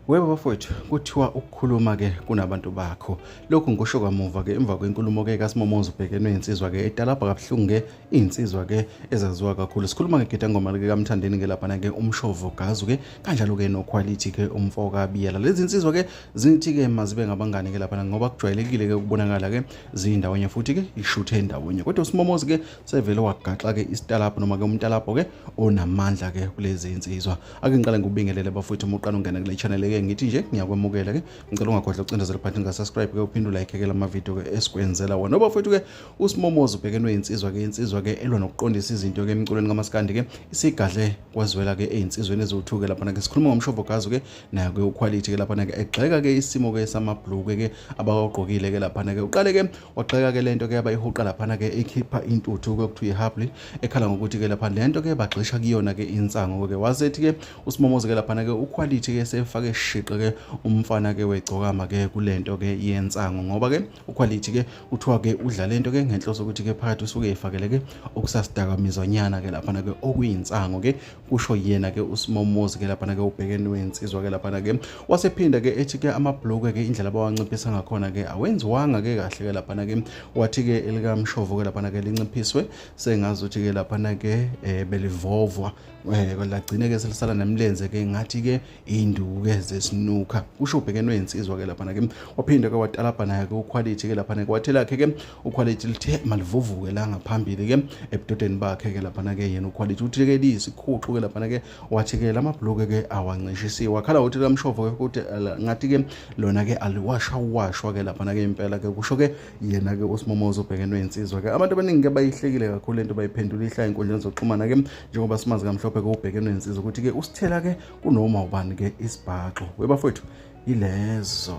Webo bafowethu kuthiwa ukukhuluma ke kunabantu bakho lokhu ngikusho kamuva ke emva kwenkulumo ke kaSimomoza ubhekene insizwa ke etalabha kabuhlungu ke insizwa ke ezaziwa kakhulu sikhuluma ngegida ngoma ke kamthandeni ke lapha ke umshovo gazu ke kanjalo ke noquality ke umfoka biyela lezi insizwa ke zithi ke mazibe ngabangani ke lapha ngoba kujwayelekile ke ukubonakala ke zindawonye futhi ke ishuthe endawonye kodwa uSimomoza ke sevele wagaxa-ke isitalabho noma-ke umtalabho-ke onamandla-ke kulezi nsizwa ake ngiqale ngikubingelele bafowethu uma uqala ungena kule channel-ke ngithi nje ngiyakwemukela-ke ngicela ungakhohlwa ukucindezela phansi ngasubscribe-ke uphinde ulayikheke la mavidiyo-ke esikwenzela wona obafowethu-ke usimomoza ubhekenwe yinsizwa-ke insizwa-ke elwa nokuqondisa izinto-ke emculweni kamaskandi-ke isigadle kwazwela-ke eyinsizweni eziwuthuke laphana-ke sikhuluma ngomshovogazo-ke nayo-ke ukhwalithi-ke laphana-ke egxeka-ke isimo-ke samabhluke-ke abawagqokile-ke laphana-ke uqale-ke wagxeka ke lento ke yabayihuqa laphana ke ikhipha intuthu kwekuthiwa ihabli ekhala ngokuthi ke lapha lento ke bagxisha kuyona ke insango ke wasethi ke usimomoze ke laphana ke uquality ke sefake shiqe ke umfana ke wegcokama ke kulento ke yensango ngoba ke uquality ke kuthiwa ke udla lento ke ngenhloso ukuthi ke phakathi usuke efakele ke okusasidaka mizonyana ke laphana ke okuyinsango ke kusho yena ke uSimomozi ke lapha ke ubhekeni wensizwa ke lapha ke wasephinda ke ethi ke amabhlokwe ke indlela bawanciphisa ngakhona ke awenziwanga ke kahle ke lapha ke wathi ke elikamshovo ke lapha ke linciphiswe sengazi ukuthi ke lapha ke eh, belivovwa eh lagcine ke selisala nemlenze ke ngathi ke induku ke zesinuka kusho ubhekene insizwa ke lapha ke waphinde ke watalabha naye ke uquality ke lapha ke wathela ke ke uquality lithe malivuvuke la ngaphambili ke ebudodeni bakhe ke lapha ke yena uquality uthi ke liyisikhuxu ke lapha ke wathi ke lama bloke ke awancishisiwe wakhala uthi lamshovo ke ukuthi ngathi ke lona ke aliwasha washwa ke lapha ke impela ke kusho ke yena-ke usimomoza obhekenwe insizwa-ke abantu abaningi-ke bayihlekile kakhulu lento bayiphendula ihlaya enkundleni zokuxhumana-ke njengoba simazi kamhlophe-ke ubhekenwe insizwa ukuthi-ke usithela-ke kunoma ubani-ke isibhaxo webafowethu yilezo